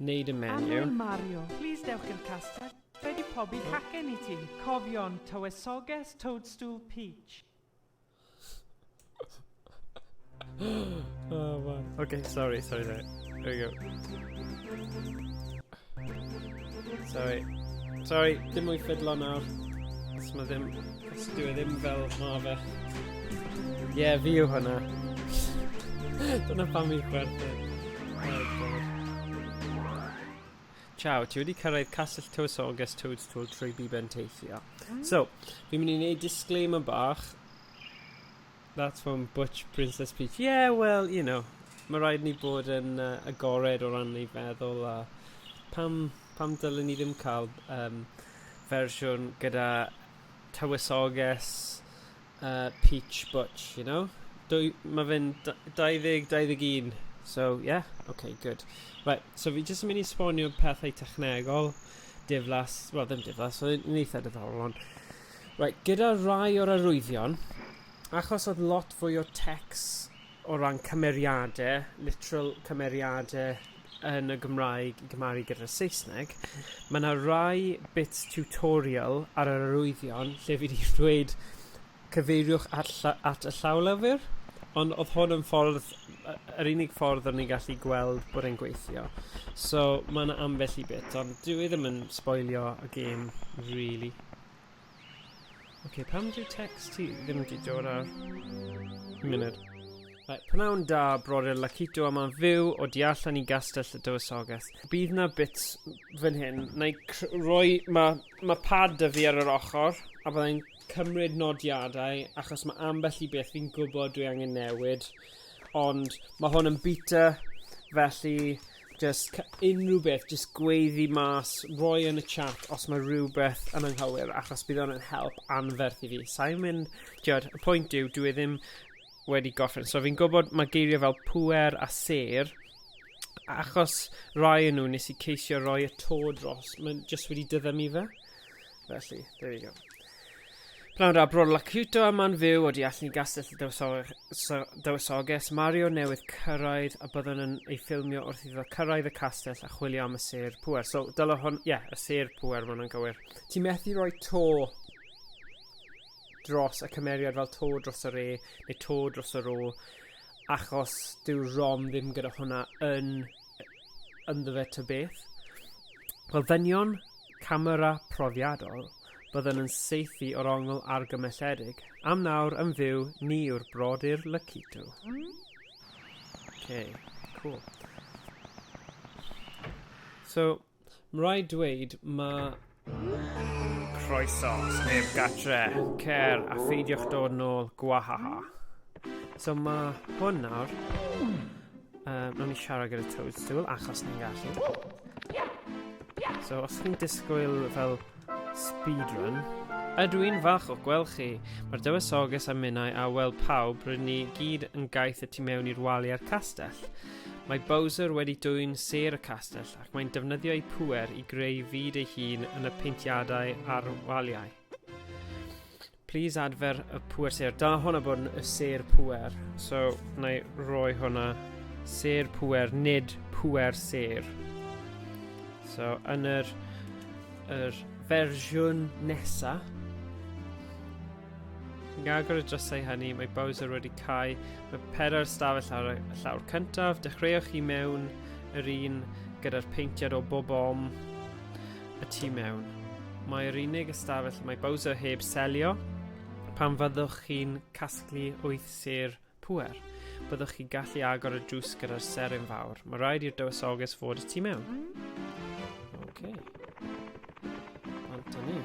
Wneud y menu. Anwyl Mario, plis dewch i'r castell, fe di pobi cacen i ti. Cofion, tywysoges, toadstool, peach. oh man. Okay, sorry, sorry, sorry. There we go. Sorry. Sorry, dim mwy ffidlo nawr. Os mae ddim Dyw e ddim fel ma fe. Ie, yeah, fi yw hwnna. Dyna pam i'n chwerthin. Ciao, ti wedi cyrraedd Castell Tywysoges Toads Tool trwy Biben Teithio. Mm. So, fi'n mynd i wneud disclaimer bach. That's from Butch Princess Peach. Yeah, well, you know, mae rhaid ni bod yn uh, agored o ran ei feddwl a pam, pam dylwn ni ddim cael um, fersiwn gyda tywysoges uh, peach butch, you know? Dwy, mae fe'n 20, 21. So, yeah, okay, good. Right, so fi jyst yn mynd i sbonio pethau technegol, diflas, well, ddim diflas, so yn eitha diddorol ond. Right, gyda rai o'r arwyddion, achos oedd lot fwy o text o ran cymeriade, literal cymeriade yn y Gymraeg i gymharu gyda'r Saesneg, ma' 'na rai bits tutorial ar yr arwyddion lle fi 'di ddweud cyfeiriwch at lla- at y llawlyfr, ond odd hwn yn ffordd yy yr unig ffordd o'n i'n gallu gweld bod e'n gweithio. So ma' 'na ambell i bit ond dyw e ddim yn sboilio y gêm rili. Ok, pam dyw text ti ddim wedi dod ar... Munud. Right, pnawn da, brodyr Lakito yma yn fyw o di allan i Gastell y Dywysoges. Bydd na bits fan hyn, na i roi... Mae ma pad da fi ar yr ochr, a byddai'n cymryd nodiadau, achos mae ambell i beth fi'n gwybod dwi angen newid. Ond mae hwn yn beta, felly Jyst ca- unrhyw beth jyst gweud fi mas roi yn y chat os ma' rywbeth yn anghywir achos bydd o'n yn help anferth i fi. Sai'n mynd t'wod y pwynt yw dyw e ddim wedi gorffen so fi'n gwybod ma' geirie fel pŵer a sêr achos rai o nw nes i ceisio roi y to dros ma'n jyst wedi diddymu fe. Felly, there we go. Pnawn da, Bro Lacuto a man fyw o di allan i gastell y dywysoges. Mario newydd cyrraedd a byddwn yn ei ffilmio wrth iddo cyrraedd y castell a chwilio am y sêr pwer. So, dylo hwn, ie, yeah, y sêr pwer, mae hwnna'n gywir. Ti methu rhoi to dros y cymeriad fel to dros yr e, neu to dros yr o, achos dyw rom ddim gyda hwnna yn ynddo fe to beth. Wel, ddynion camera profiadol, byddwn yn saethu o'r ongl argymelledig, am nawr yn fyw ni yw'r brodyr Lacito. Okay, cool. So, mae rhaid dweud, mae croeso, sneb gatre, cer a pheidiwch dod nôl, gwahaha. So mae hwn nawr Uh, Mae'n ni siarad gyda Toadstool achos ni'n gallu. So, os chi'n disgwyl fel speedrun, Ydw i'n falch o gweld chi. Mae'r dywysoges a minnau a wel pawb rydyn ni gyd yn gaeth y tu mewn i'r wali a'r castell. Mae Bowser wedi dwy'n ser y castell ac mae'n defnyddio ei pwer i greu fyd ei hun yn y peintiadau a'r waliau. Please adfer y pŵer sêr. Da hwn a bod yn y sêr pŵer. So, na i roi hwnna. Sêr pŵer, nid pŵer sêr. So, yn yr, yr fersiwn nesa, Yn agor y drysau hynny, mae Bowser wedi cael y pedair stafell ar y llawr cyntaf. Dechreuwch chi mewn yr un gyda'r peintiad o bob om. y tu mewn. Mae'r unig ystafell mae Bowser heb selio pan fyddwch chi'n casglu wyth sêr pwer. Byddwch chi'n gallu agor y drws gyda'r seryn fawr. Mae rhaid i'r dywysoges fod y tu mewn. Ok. Antoni.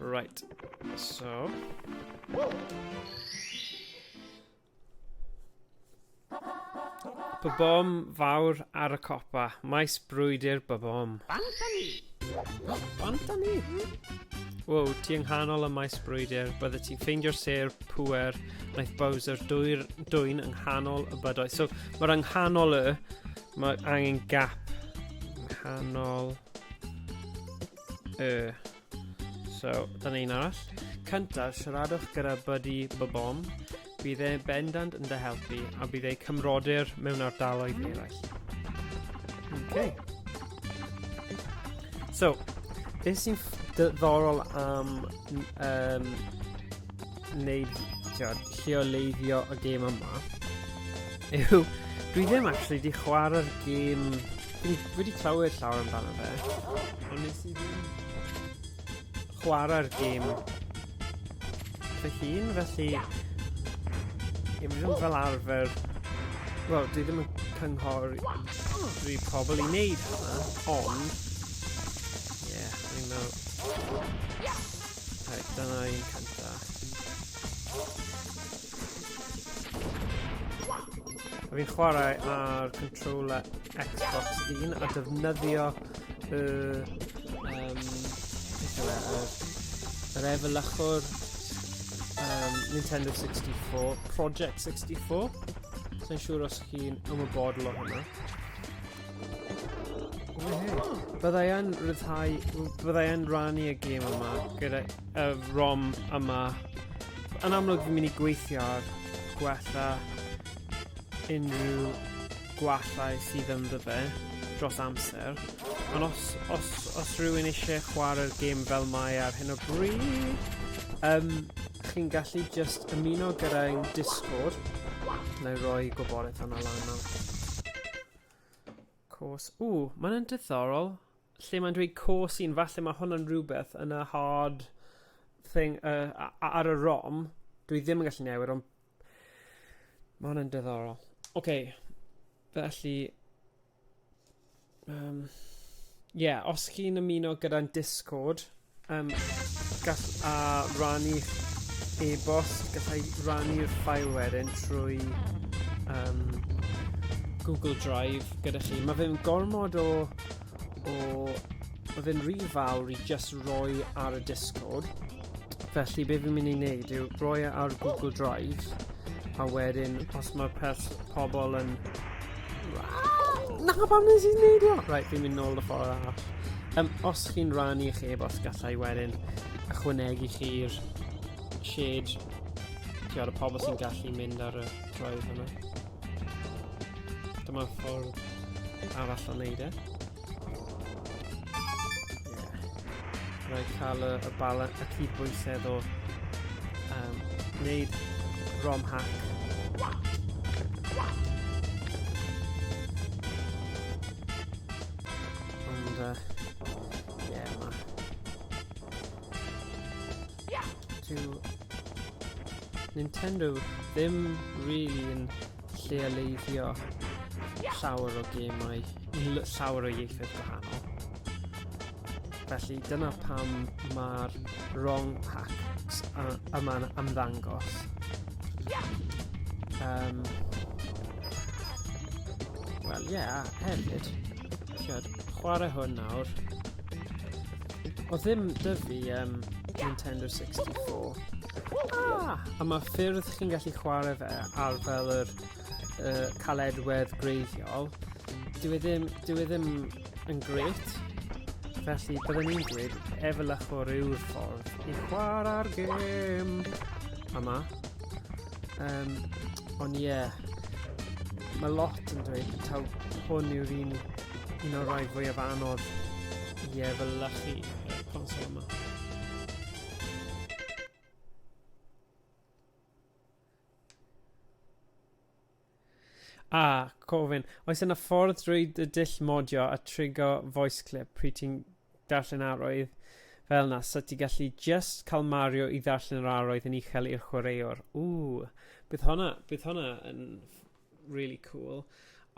Right. So. Babom fawr ar y copa, maes brwydr babom. Banta ni! Banta ni! Wow, ti yng nghanol y maes brwydr, bydde ti'n ffeindio'r sêr pwer, naeth Bowser dwyr, dwy'n yng nghanol y bydoedd. So, mae'r yng nghanol y, mae angen gap. Yng nghanol y. So, dyna un arall. Cynta, siaradwch gyda Buddy Bobom. Bydd e bendant yn dy helpu a bydd ei cymrodyr mewn ardaloedd eraill. Okay. So, beth sy'n ddiddorol am um, wneud, tiod, lleoleiddio y gêm yma, yw, dwi ddim actually di chwarae'r gêm, dwi wedi clywed llawer amdano fe, ond nes i ddim chwarae'r gêm fy hun, felly i mi ddim fel arfer, wel, dwi ddim yn cynghori rhy pobl i wneud hwnna, ond, ie, yeah, dwi'n meddwl, Reit, dyna un cynta. A fi'n chwarae ar controller Xbox 1 a defnyddio y... Um, beth yw e? Yr er efelychwr um, Nintendo 64, Project 64. Sa'n siŵr os chi'n ymwybodol o hwnna. Byddai yn rhyddhau, byddai yn rannu y gêm yma gyda y rom yma. Yn amlwg fi'n mynd i gweithio ar gwella unrhyw gwallau sydd yn fe dros amser. Ond os, os, os rhywun eisiau chwarae'r gêm fel mae ar hyn o bryd, um, chi'n gallu just ymuno gyda'n Discord. Neu roi gwybodaeth yna lan nawr. Cos. O, mae'n yn diddorol. Lle mae'n dweud cos un, falle mae hwn yn rhywbeth yn y hard thing uh, ar y rom. Dwi ddim yn gallu newid, ond mae hwn yn diddorol. Oce, okay. felly... Um, yeah, os chi'n ymuno gyda'n Discord, Um, gall a rannu e-bost, gallai rannu'r ffael wedyn trwy um, Google Drive gyda chi. Mae fe'n gormod o, o mae fe'n rhy fawr i just roi ar y Discord. Felly be fi'n mynd i wneud yw roi e ar Google Drive a wedyn os mae pobl yn Na, pam nes i'n neud o? Right, fi'n mynd nôl y ffordd arall. Um, os chi'n rannu eich e-bost gallai wedyn ychwanegu chi'r shade tiod y pobl sy'n gallu mynd ar y drive yma. Dyma ffordd arall o wneud e. Rhaid cael y, y bala, y cydbwysedd o um, wneud rom hack. Ond, uh, yeah, ma. Nintendo ddim really yn lleoleiddio llawer o gemau i llawer o ieithoedd gwahanol. Felly dyna pam mae'r wrong hacks yma'n ymddangos. Um, Wel, ie, yeah, hefyd, siarad, chwarae hwn nawr. O ddim dyfu um, Nintendo 64. Ah! A mae ffyrdd chi'n gallu chwarae fe ar fel yr uh, caledwedd greiddiol. Dwi e ddim, dwi e ddim yn gret. Felly, byddwn i'n dweud efelych o ryw ffordd i chwarae'r gêm yma. Um, ond ie, yeah, mae lot yn dweud taw hwn yw'r un, un o'r rhai fwyaf anodd i efelychu y consol yma. Ah, cofyn, oes yna ffordd drwy dy dull modio a trigo voice clip pryd ti'n darllen arwydd fel na, so ti gallu just cael Mario i ddarllen yr arwydd yn uchel i'r chwaraewr. Ww, bydd hwnna, bydd hwnna yn really cool.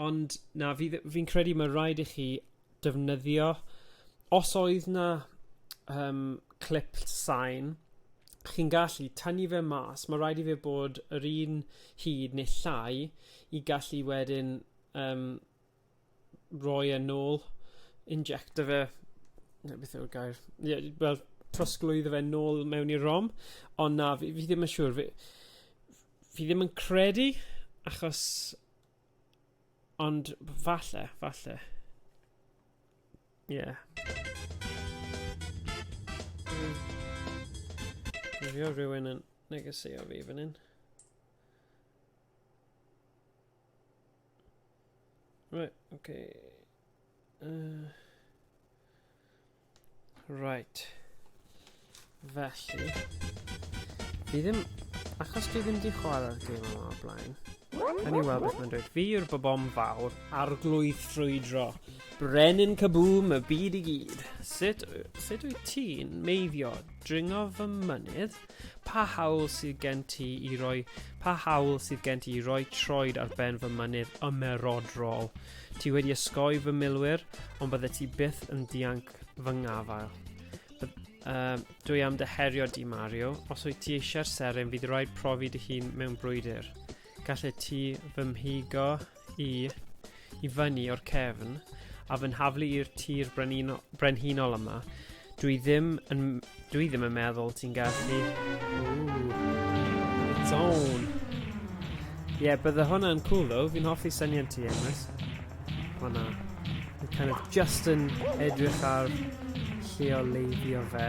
Ond na, fi'n fi credu mae rhaid i chi defnyddio. Os oedd 'na yym clip sain chi'n gallu tynnu fe mas ma' raid i fe bod yr un hyd neu llai i gallu wedyn yym roi e nôl injecto fe ne' beth yw'r gair ie fel trosglwyddo fe nôl mewn i'r rom ond na fi fi ddim yn siŵr fi f- fi ddim yn credu achos Ond falle, falle. Ie. Yeah. Rwy'n rhywun yn negesio fi fan hyn. Right, okay. Uh, right. Felly... Fi ddim... Achos fi ddim di chwarae'r gêm yma o'r blaen. Yn i weld beth mae'n dweud. Fi yw'r bobom fawr. Arglwydd ffrwydro. Brenin Caboom y byd i gyd. Sut, sut wyt ti'n meiddio dringo fy mynydd? Pa hawl sydd gen ti i roi... Pa hawl sydd gen ti i roi troed ar ben fy mynydd ymerodrol? Ti wedi ysgoi fy milwyr, ond bydde ti byth yn dianc fy ngafael. Uh, dwi am dy herio di, Mario. Os wyt ti eisiau'r seren, fydd rhaid profi dy hun mewn brwydr. Gallet ti fy mhigo i i fyny o'r cefn a fy nhaflu i'r tir brenino- brenhinol yma. Dwi ddim yn... Dwi ddim yn meddwl ti'n gallu... Ooh. Zone. Ie, yeah, bydde hwnna'n cool though. Fi'n hoffi syniad ti, Emrys. Hwna. Fi'n kind of just yn edrych ar lleoleiddio fe.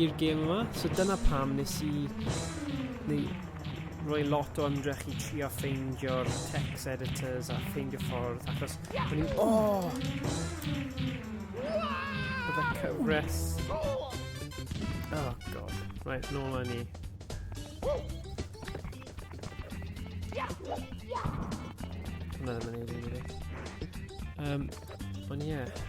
i'r gêm yma, so dyna pam nes i neu roi lot o ymdrech i trio ffeindio'r text editors a ffeindio ffordd achos o'n i'n... O! Bydde cyfres... Oh god. Right, nôl â ni. Hwna ddim yn ei ddim i fi. Um, ond ie. Yeah.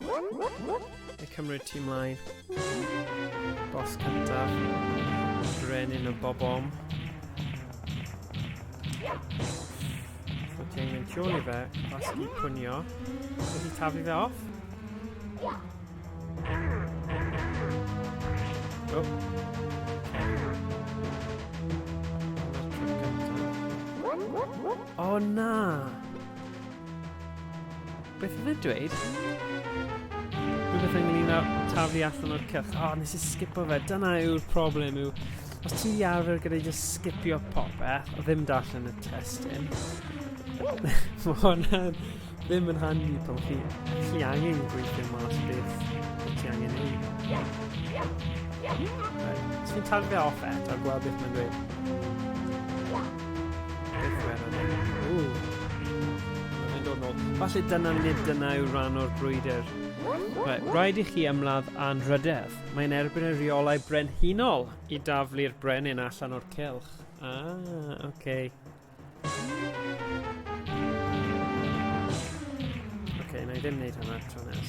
Neu cymryd ti mlaen. Bos cyntaf. Brenin y bobom. Ti'n mynd tu ôl i fe, os i pwnio. Ti'n i tafu fe off? Oh. O na! Beth oedd e'n dweud? Rhywbeth ynglyn â taflu allan o'r cylch. O, oh, nes i sgipo fe. Dyna yw'r problem yw. Os ti'n di arfer gyda'i just sgipio popeth, o ddim darllen y testyn. Mae hwnna ddim yn handi pan chi, chi angen gweithio mas beth ti angen ei. Right. Os fi'n taflu fe off eto, gweld beth mae'n dweud. Falle dyna nid dyna yw rhan o'r brwydr. Right, rhaid i chi ymladd a'n rhydedd. Mae'n erbyn y rheolau brenhinol i daflu'r brenin allan o'r cylch. Ah, oce. Okay. Oce, okay, na i ddim wneud hwnna tro nes.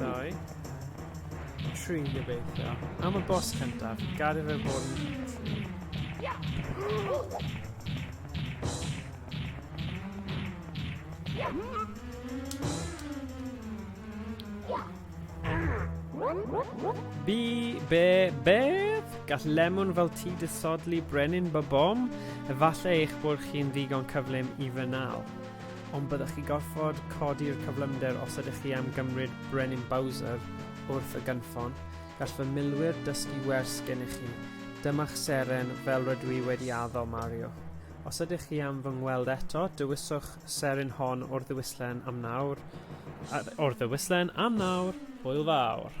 Doi. Tri gobeithio. Am y bos cyntaf, gad i fe fod yn... Bi, be, beth? Gall lemon fel ti disodli brenin bobom? Efallai eich bod chi'n ddigon cyflym i fy nal. ond byddech chi gorfod codi'r cyflymder os ydych chi am gymryd Brenin Bowser wrth y gynffon. Gall fy milwyr dysgu wers gennych chi. Dyma'ch seren fel rydw i wedi addo, Mario. Os ydych chi am fy ngweld eto, dewiswch seren hon o'r ddewislen am nawr. O'r ddewislen am nawr, hwyl fawr.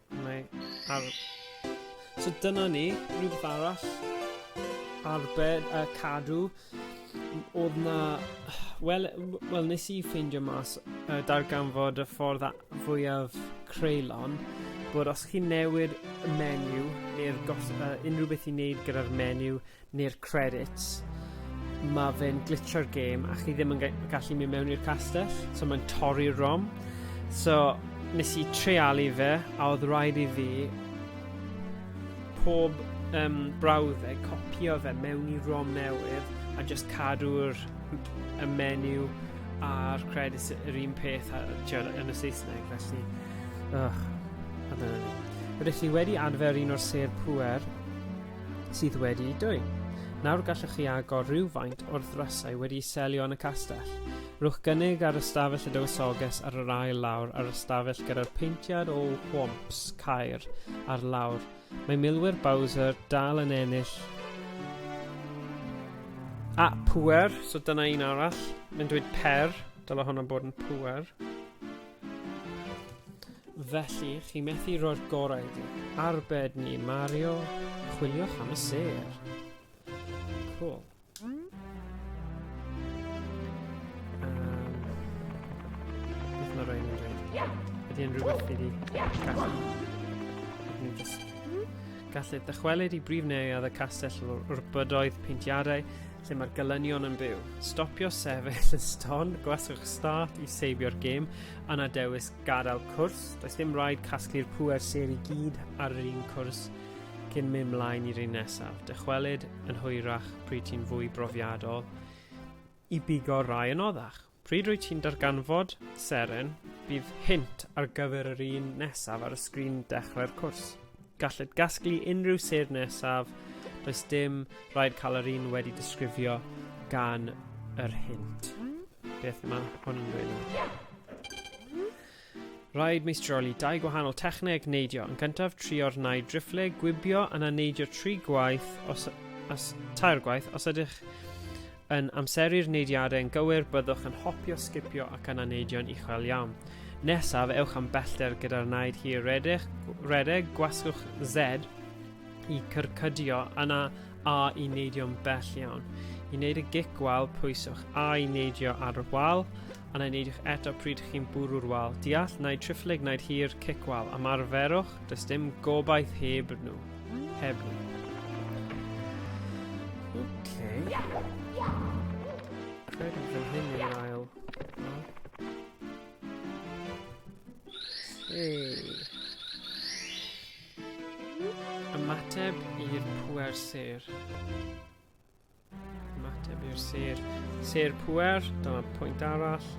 Mae ar... So dyna ni, rhywbeth arall. Arbed a cadw. Oedd na... Wel, well, nes i ffeindio mas uh, darganfod y ffordd fwyaf creulon bod os chi'n newid y menu neu'r uh, unrhyw beth i wneud gyda'r menu neu'r credits, ma fe'n glitsio'r gêm a chi ddim yn gallu mynd mewn i'r castell, so mae'n torri'r rom. So, nes i treialu fe, a oedd rhaid i fi pob um, brawddeg copio fe mewn i rom newydd a just cadw'r y menu a'r credits yr un peth a, tiod, yn y Saesneg, felly... Ugh, a dyna ni. Rydych chi wedi adfer un o'r sêr pwer sydd wedi'u dwyn. Nawr gallwch chi agor rhywfaint o'r ddrysau wedi'u selio yn y castell. Rhowch gynnig ar ystafell y dywysoges ar yr ail lawr a'r ystafell gyda'r peintiad o whomps caer ar lawr. Mae milwyr Bowser dal yn ennill A, pwer, so dyna un arall. Mae'n dweud per, dyla hwnna bod yn pwer. Felly, chi methu roi'r gorau iddi. Arbed ni, Mario. Chwiliwch am y sêr. Cool. Ydy yn rhywbeth i fi gallu. Dwi'n just gallu dychwelyd i brif neuadd y castell o'r bydoedd peintiadau lle mae'r gelynion yn byw. Stopio sefyll yn ston, gwasgwch start i seibio'r gêm, a na dewis gadael cwrs. Does dim rhaid casglu'r pwer ser i gyd ar yr un cwrs cyn mynd mlaen i'r un nesaf. Dychwelyd yn hwyrach pryd ti'n fwy brofiadol i bigo rai yn oddach. Pryd rwyt ti'n darganfod seren, bydd hint ar gyfer yr un nesaf ar y sgrin dechrau'r cwrs. Galled gasglu unrhyw sedd nesaf, does dim rhaid cael yr un wedi disgrifio gan yr hint. Beth mae hwn yn dweud? Rhaid meistroli dau gwahanol techneg neidio. Yn cyntaf, trio'r naid driffle, gwibio, yna neidio tri gwaith, os, os, tair gwaith. Os ydych yn amseru'r neidiadau yn gywir, byddwch yn hopio, sgipio ac yna neidio'n uchel iawn. Nesaf, ewch am bellter gyda'r naid hir redeg, redeg gwasgwch Z i cyrcydio yna A i neidio'n bell iawn. I wneud y gic wal, pwyswch A i neidio ar y wal, a na wneidiwch eto pryd chi'n bwrw'r wal, deall naid triphlyg naid hir cic wal, ymarferwch, does dim gobaith heb nhw. Heb nhw. Ymateb i'r pwer sêr. Mateb i'r sir. Sir pwer, dyma pwynt arall.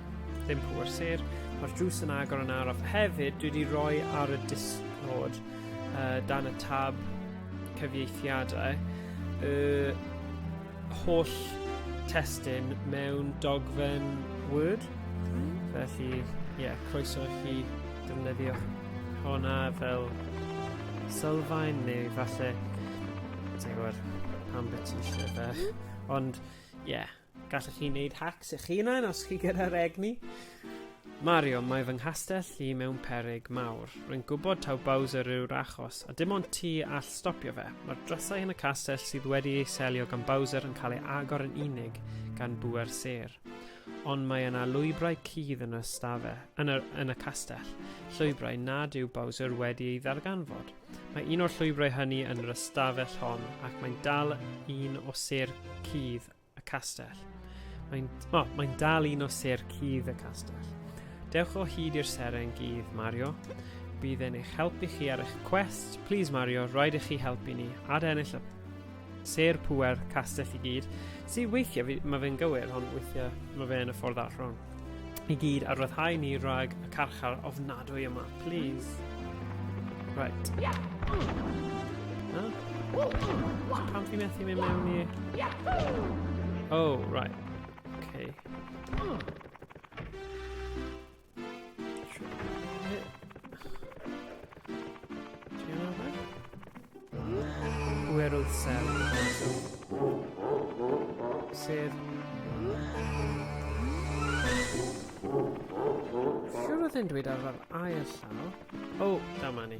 Ddim pwer sir. Mae'r drws yn agor yn araf. Hefyd, dwi wedi rhoi ar y disnod uh, dan y tab cyfieithiadau y holl testyn mewn dogfen Word. Hmm. Felly, ie, yeah, croeso i chi defnyddio hwnna fel sylfaen neu falle Ti'n gwybod, pam beth ti eisiau fe. Ond, ie, yeah, gallwch chi wneud hacks eich hunain os chi gyda'r egni. Mario, mae fy nghastell i mewn perig mawr. Rwy'n gwybod taw Bowser yw'r achos, a dim ond ti all stopio fe. Mae'r drysau yn y castell sydd wedi ei selio gan Bowser yn cael ei agor yn unig gan bwer ser. Ond mae yna lwybrau cudd yn y stafe, yn y, yn y castell, llwybrau nad yw Bowser wedi ei ddarganfod. Mae un o'r llwybrau hynny yn yr ystafell hon ac mae'n dal un o ser cudd y castell. Mae'n oh, mae dal un o ser cudd y castell. Dewch o hyd i'r seren gudd, Mario. Bydd e'n eich helpu chi ar eich cwest. Please, Mario, rhaid i chi helpu ni. Ad ennill y Sêr pŵer castell i gyd, sydd weithiau, fi, mae fe'n gywir, ond weithiau mae fe yn y ffordd allan. I gyd a ryddhau ni rhag y carchar ofnadwy yma, please. Right. No? Pam fi methu mynd mewn i... Oh, right. Okay. Pwerwyd sef. Sef... Siwr oedd yn dweud ar yr ail llaw. O, oh, dyma ni.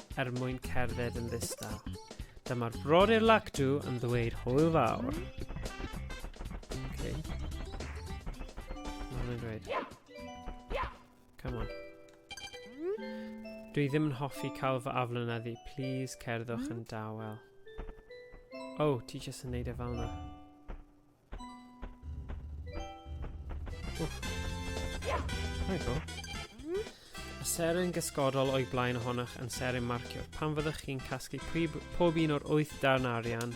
er mwyn cerdded yn ddistaw. Dyma'r brodyr Lactu yn ddweud hwyl fawr. Okay. Mae'n dweud. Come on. Dwi ddim yn hoffi cael fy aflynyddu. Please cerddwch yn dawel. Oh, ti jyst yn neud e fel yna. Seren gysgodol o'i blaen ohonoch yn seren marcio. Pan fyddwch chi'n casglu prib, pob un o'r wyth darn arian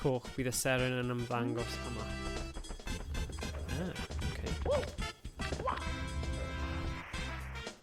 coch, bydd y seren yn ymddangos yma. Ah, okay.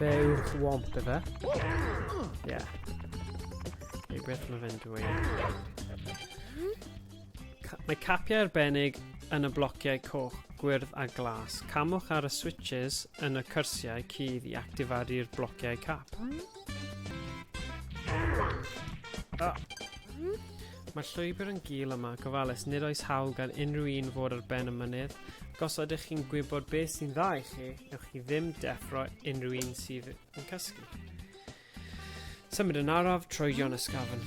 Fe yw'r swamp efe. Ie. Yeah. Ei beth mae fe'n dweud. Mae capiau arbennig yn y blociau coch, gwyrdd a glas. Camwch ar y switches yn y cyrsiau cudd i actifadu'r blociau cap. Ah. Mae'r llwybr yn gul yma, gofalus, nid oes hawl gan unrhyw un fod ar ben y mynydd, ac os ydych chi'n gwybod beth sy'n dda i chi, ewch chi ddim deffro unrhyw un sydd yn cysgu. Symud yn araf, troedion ysgafn.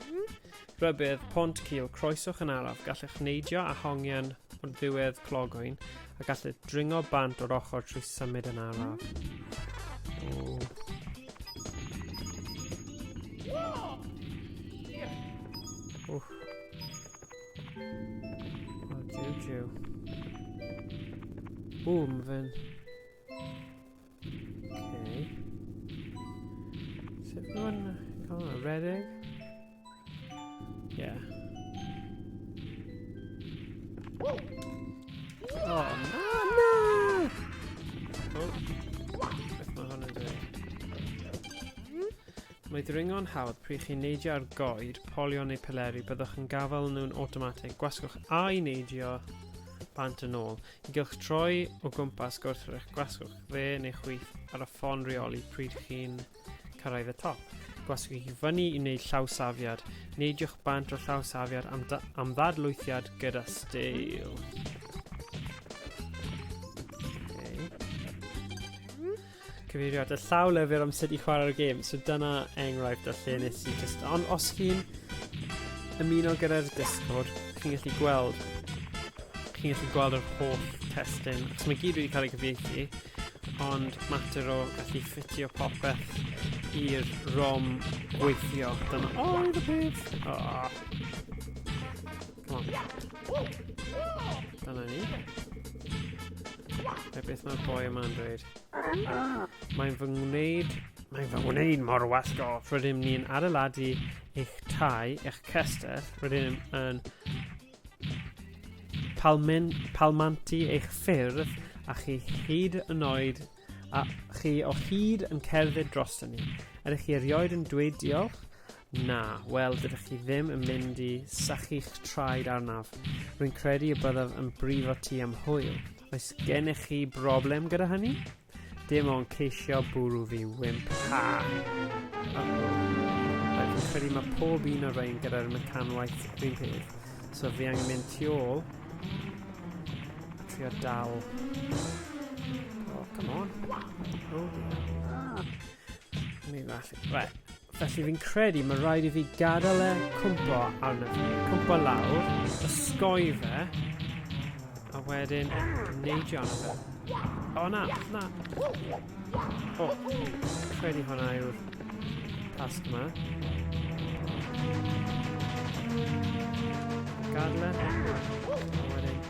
Rhybudd, pont cil, croeswch yn araf, gallech neidio a hongian o'r ddiwedd clogoen, a gallech dringo bant o'r ochr trwy symud yn araf. Oh. Wff. O, jiw, jiw. Ww, mae fe'n Okay. Sut nhw'n cael hwnna? Redeg? Yeah. Oh, no, no! Oh, beth mae hwn yn dweud? Mae dringo'n hawdd pryd chi'n neidio ar goed, polio neu peleri, byddwch yn gafael nhw'n automatic. Gwasgwch a'i neidio bant yn ôl. Gylch troi o gwmpas gwrthrych gwasgwch dde neu chwith ar y ffon reoli pryd chi'n cyrraedd y top. Gwasgwch chi fyny i wneud llaw safiad. Neidiwch bant o llaw safiad am, am ddadlwythiad gyda steil. Cyfeiriad y llaw lyfr am sut i chwarae'r gêm. So dyna enghraifft o lle nes i just... Ond os chi'n ymuno gyda'r Discord, chi'n gallu gweld chi'n gallu gweld yr holl testyn. So mae gyd wedi cael ei gyfieithu, ond mater o gallu ffitio popeth i'r rom gweithio. Dyna oedd y peth. Oh. O. Dyna ni. Be beth mae'r boi yma'n dweud? Mae'n fy ngwneud... Mae'n fy ngwneud mor wasgo. Rydym ni'n adeiladu eich tai, eich cester. Rydym yn palmen, palmantu eich ffyrdd a chi hyd yn oed a chi o hyd yn cerdded dros ni. Ydych chi erioed yn dweud diolch? Na, wel, dydych chi ddim yn mynd i sachu'ch traed arnaf. Rwy'n credu y byddaf yn brifo ti am hwyl. Oes gennych chi broblem gyda hynny? Dim ond ceisio bwrw fi wimp. Ha! Rwy'n credu mae pob un o'r rhain gyda'r mecanwaith rhywun peth. So fi angen mynd tu ôl. A trio dal. Oh, come on. Oh, ah. Right. Felly fi'n credu mae rhaid i fi gadael e cwmpo arno fi. Cwmpo lawr, ysgoi fe, a wedyn neidio arno fe. O na, na. O, credu hwnna yw'r tasg yma. Gadle. A wedyn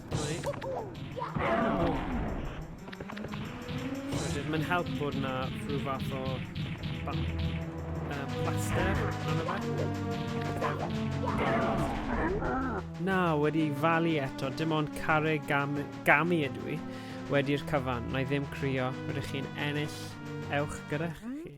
Mae'n help bod yna rhyw fath o plaster Na, wedi falu eto, dim ond care gam, gamu ydw i wedi'r cyfan, na i ddim crio, rydych chi'n ennill, ewch gyda chi.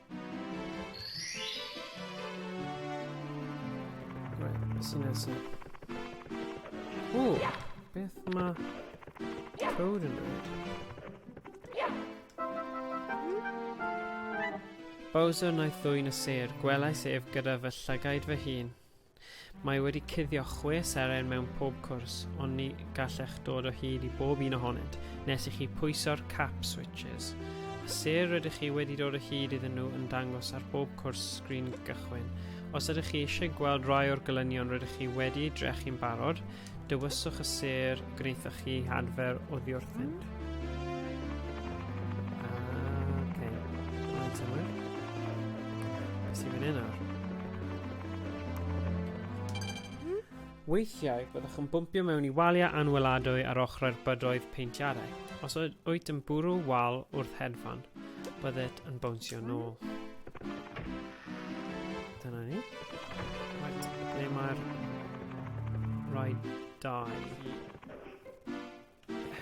Right, sy'n neud sy'n... O, beth mae code yn dweud? Bowser wnaeth ddwyn y sêr, gwelais ef gyda fy llygaid fy hun. Mae wedi cuddio chwe seren mewn pob cwrs, ond ni gallech dod o hyd i bob un ohonynt nes i chi pwyso'r cap switches. Y ser rydych chi wedi dod o hyd iddyn nhw yn dangos ar bob cwrs sgrin gychwyn. Os ydych chi eisiau gweld rai o'r gelynion rydych chi wedi eu drechu'n barod, Dywyswch y sêr gwnaethoch chi adfer oddiwrthyn. Weithiau, byddwch yn bwmpio mewn i waliau anweladwy ar ochrau'r bydoedd peintiadau. Os wyt yn bwrw wal wrth hedfan, bydded yn bownsio nôl. Dyna ni. Right, ble mae'r rhaid dau?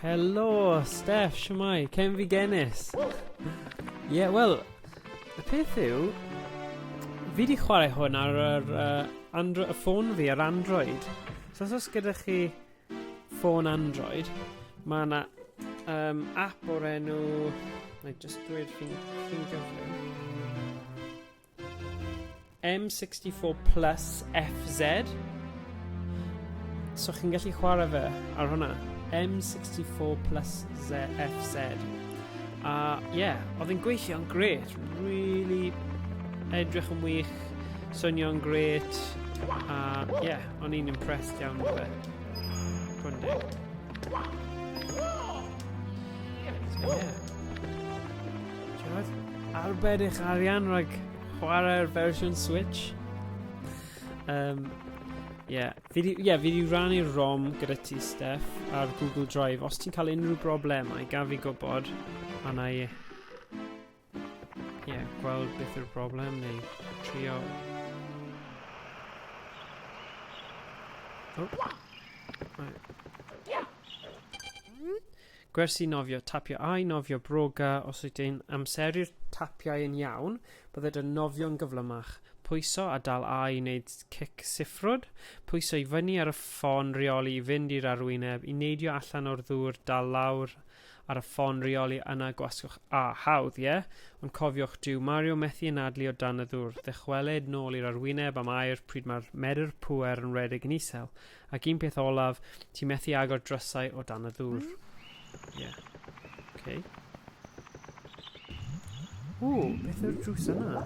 Helo, Steff, siwmai, cem fi genis. Ie, yeah, wel, y peth yw, fi wedi chwarae hwn ar yr uh, andro, y ffôn fi ar Android. So os oes gyda chi ffôn Android, mae yna um, app o'r enw... Mae'n just dweud chi'n gyflym. M64 Plus FZ. So chi'n gallu chwarae fe ar hwnna. M64 Plus ZFZ. A ie, yeah, oedd yn gweithio'n gret. Really edrych yn wych, swnio'n gret. A ie, yeah, O'n i'n impressed iawn o fe. Rhw'n deg. Arbed eich arian rhag chwarae'r fersiwn Switch. Um, yeah. Fi di, yeah, fi di rannu'r ROM gyda ti, Steph, ar Google Drive. Os ti'n cael unrhyw broblemau, gaf fi gwybod, a na i yeah, gweld beth yw'r broblem neu trio... Oh. Right. Gwersi nofio, tapio ai nofio broga os wyt ti'n amseru'r tapiau yn iawn, bydded yn nofio'n gyflymach. Pwyso a dal ai i wneud cic siffrwd, pwyso i fyny ar y ffôn reoli i fynd i'r arwyneb, i neidio allan o'r ddŵr, dal lawr ar y ffon reoli yna gwasgwch A hawdd, ie? Ond cofiwch, dyw Mario methu anadlu o dan y ddŵr, ddychwelyd nôl i'r arwyneb am aer pryd mae'r medr pŵer yn rhedeg yn isel, ac un peth olaf, ti methu agor drysau o dan y ddŵr. Ie. Okay. O, beth yw'r drws yna?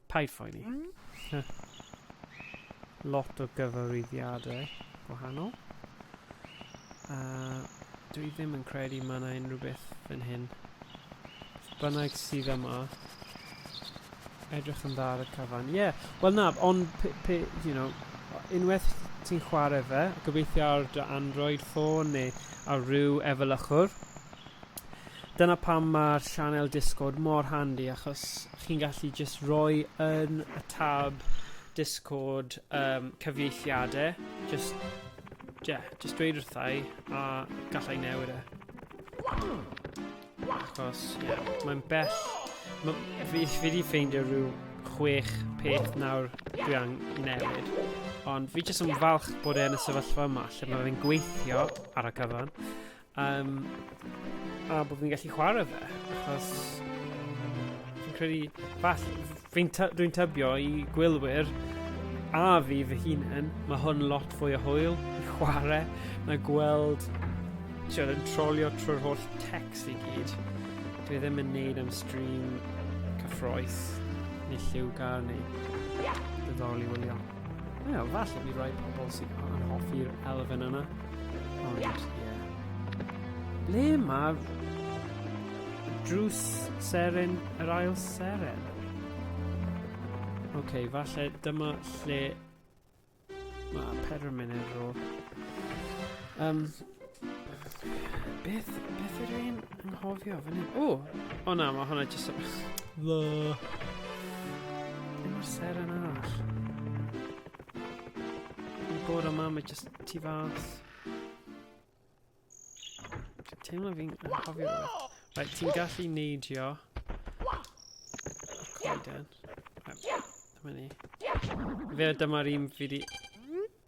Paid phoeni. Lot o gyfarwyddiadau gwahanol. A dwi ddim yn credu mae yna unrhyw beth yn hyn. Bynnag sydd yma. Edrych yn dda ar y cyfan. Ie, yeah. wel na, ond pe, pe, you know, unwaith ti'n chwarae fe, gobeithio ar dy Android ffôn neu ar ryw efelychwr, Dyna pam mae'r sianel Discord mor handi achos a chi'n gallu jyst rhoi yn y tab Discord um, cyfieithiadau, jyst, yeah, jyst dweud wrthau a gallai newid e. Achos, yeah, mae'n bell, ma, fi, fi wedi ffeindio rhyw chwech peth nawr dwi am newid, ond fi jyst yn falch bod e'n y sefyllfa yma lle mae fe'n gweithio ar y cyfan, Um, a bod fi'n gallu chwarae fe, achos fi'n credu, fath, fi'n dwi tybio i gwylwyr a fi fy hunain, mae hwn lot fwy o hwyl i chwarae na gweld ti'n yn trolio trwy'r holl text i gyd. Dwi ddim yn neud am stream cyffroes neu lliw gar neu ddoddol i wylio. Ie, yeah, falle bydd rhaid pobl sy'n anhoffi'r elfen yna. Ond, ie. Yeah. Ble mae drws seren yr ail seren? Oce, okay, falle dyma lle mae Pedro Menedro. Um, Beth, beth ydw i'n anghofio fan hyn? O! O na, mae hwnna jyst yn... Dda. Dim o'r ser yn arall. Mae'n bod yma, mae jyst tu fas. Dwi'n teimlo fi'n anghofio rhywbeth. Right, ti'n gallu neidio. Coeden. Dyma ni. Fe dyma'r un fi di...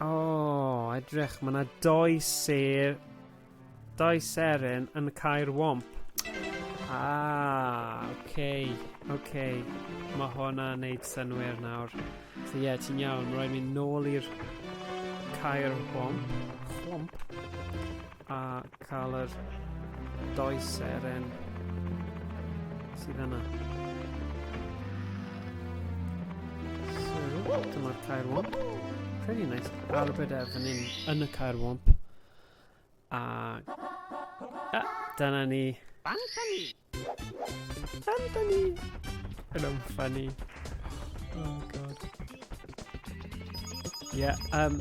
O, oh, edrych, mae yna doi sef... Doi seren yn y cair womp. Ah, oce, okay, oce. Okay. Mae hwnna yn neud synwyr nawr. So ie, yeah, ti'n iawn, mae rhaid mynd nôl i'r cair womp. Womp? A cael yr doi seren sydd yna. So, dyma'r cair womp. Pretty nice. Arbed ef yn un yn y cair womp. A... a dyna ni. Bantani! Anthony! Yn o'n funny. Oh god. Ie, yeah, um,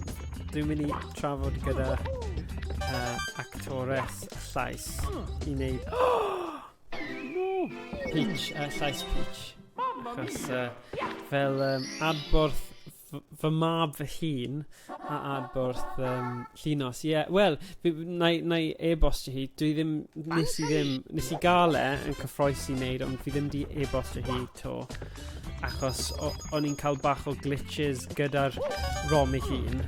dwi'n mynd i trafod gyda uh, actores llais i wneud... Peach, uh, llais Peach. Achos uh, fel um, adborth fy mab fy hun a adborth um, llinos. Ie, yeah, wel, na i e-bost i hi. Dwi ddim, nes i ddim, nes i gael e yn cyffroes i wneud, ond fi ddim di e-bost i hi to. Achos o'n i'n cael bach o glitches gyda'r rom i hun.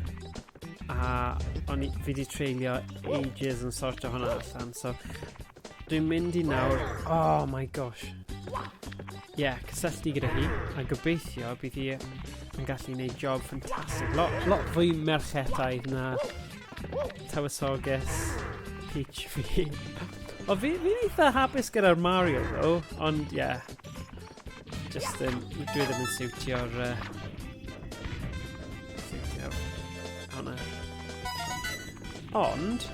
A o'n i, fi di treulio ages yn sortio hwnna allan. So, Dwi'n mynd i nawr. Oh my gosh. Ie, yeah, cysylltu gyda hi, a gobeithio bydd hi yn gallu gwneud job ffantastig. Lot, lot fwy merchetau na tywysoges Peach fi. o, fi, fi'n eitha hapus gyda'r Mario, ddo, ond ie. Yeah, just um, dwi ddim yn siwtio'r... Uh, siwtio hwnna. Ond,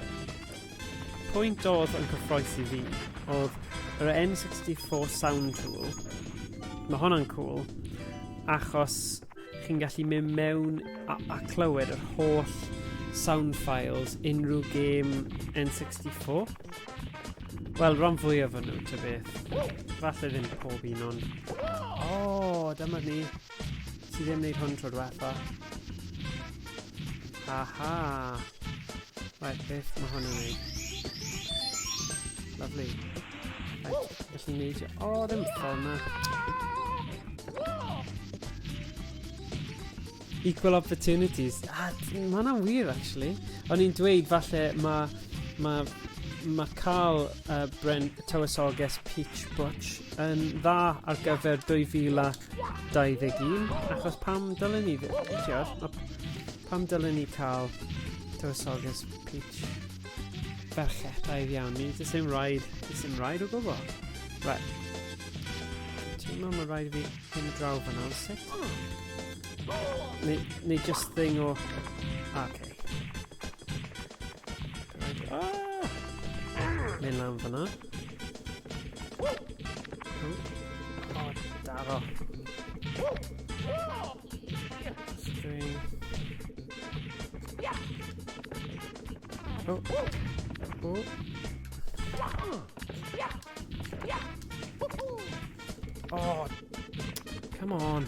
Pwynt oedd yn cyffroes i fi oedd yr N64 Sound Tool. Mae honna'n cool, achos chi'n gallu mynd mewn a, a clywed yr holl sound files unrhyw gêm N64. Wel, rhan fwy o fy nhw, ta beth. Falle ddim pob un, ond... O, oh, dyma ni. Ti ddim wneud hwn tro diwetha. Aha! Right, beth mae hwn yn wneud? Lovely. Right, felly wneud... O, oh, ddim ffordd yna. Equal opportunities. Ah, mae hwnna'n wir, actually. O'n i'n dweud, falle, mae... Mae... Mae cael uh, Brent Tywysoges Peach Butch yn dda ar gyfer 2021 achos pam dylen ni ddim, pam dylen ni cael tywysoges Peach berchetaidd iawn, ni jyst ddim rhaid, jyst ddim rhaid o gwbl. Right. Ti'n meddwl mae'n rhaid i fi hyn draw fan hyn, sut? Neu, neu just thing o... Ah, okay. Mynd lan fyna. O, daro. String. O. O. Oh, come on.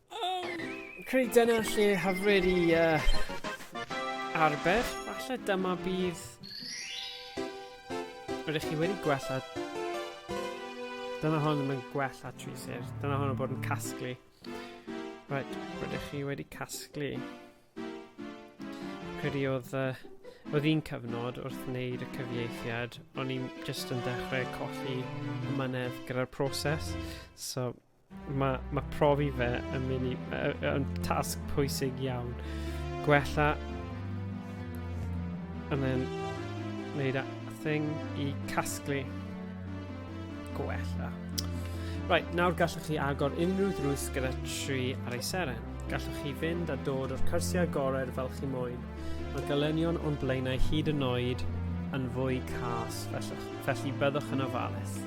Umm, credu dyna lle hyfryd i uh, arbed. Falle dyma bydd... Rydych chi wedi gwella... Dyna hon ddim yn gwella tri sir. Dyna hon yn bod yn casglu. Right, rydych chi wedi casglu. Credu oedd... Uh, oedd un cyfnod wrth wneud y cyfieithiad, o'n i'n just yn dechrau colli mynedd gyda'r proses. So, Mae, mae profi fe yn mynd i... yn tasg pwysig iawn. Gwella... And then... Neud a thing i casglu... Gwella. Right, nawr gallwch chi agor unrhyw ddrws gyda tri ar ei seren. Gallwch chi fynd a dod o'r cyrsiau agored fel chi moyn. Mae gylenion o'n blaenau hyd yn oed yn fwy cas, felly, felly byddwch yn ofalus.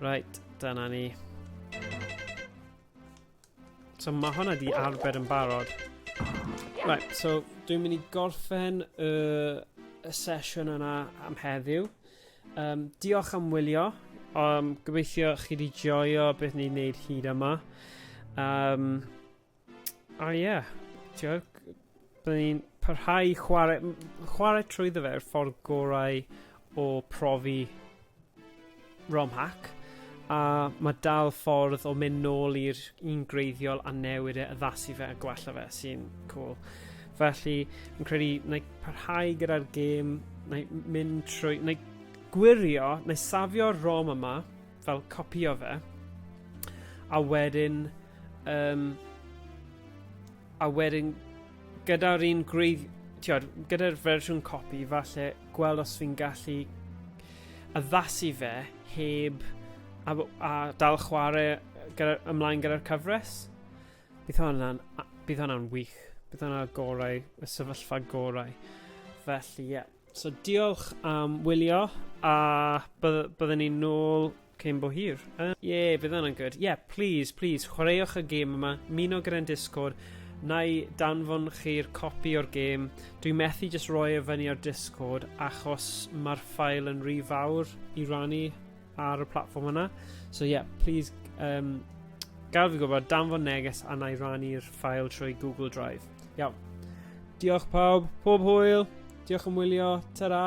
Right, Dyna ni. So mae hwnna di arbed yn barod. Right, so dwi'n mynd i gorffen y, y sesiwn yna am heddiw. Um, diolch am wylio. Um, gobeithio chi wedi joio beth ni'n neud hyd yma. Um, O ie. Ti'od g- byddwn i'n parhau chware m- chware trwyddo fe yw'r ffordd gorau o profi ROM hack a ma' dal ffordd o mynd nôl i'r un gwreiddiol a newid e addasu fe a gwella fe sy'n cŵl. Felly fi'n credu wnai parhau gyda'r gêm wnai m- mynd trwy wnai gwirio wnai safio'r ROM yma fel copio fe a wedyn um, a wedyn gyda'r un gwreiddi tiod, gyda'r fersiwn copi falle gweld os fi'n gallu addasu fe heb a, a dal chwarae gyda, ymlaen gyda'r cyfres bydd hwnna'n bydd hwnna'n wych bydd hwnna'n gorau y sefyllfa gorau felly ie yeah. So diolch am wylio a bydd- byddwn ni'n nôl cyn bo hir. Uh, Ie, bydd hwnna'n good. Ie, yeah, please, please, chwaraewch y gêm yma, muno gyda'n Discord, na i danfon chi'r copi o'r gêm. Dwi'n methu just roi e fyny ar Discord achos mae'r ffael yn rhy fawr i rannu ar y platform yna. So yeah, please um, gael fi gwybod danfon neges a na i rannu'r ffael trwy Google Drive. Iawn. Diolch pawb, pob hwyl, diolch am wylio, ta-ra!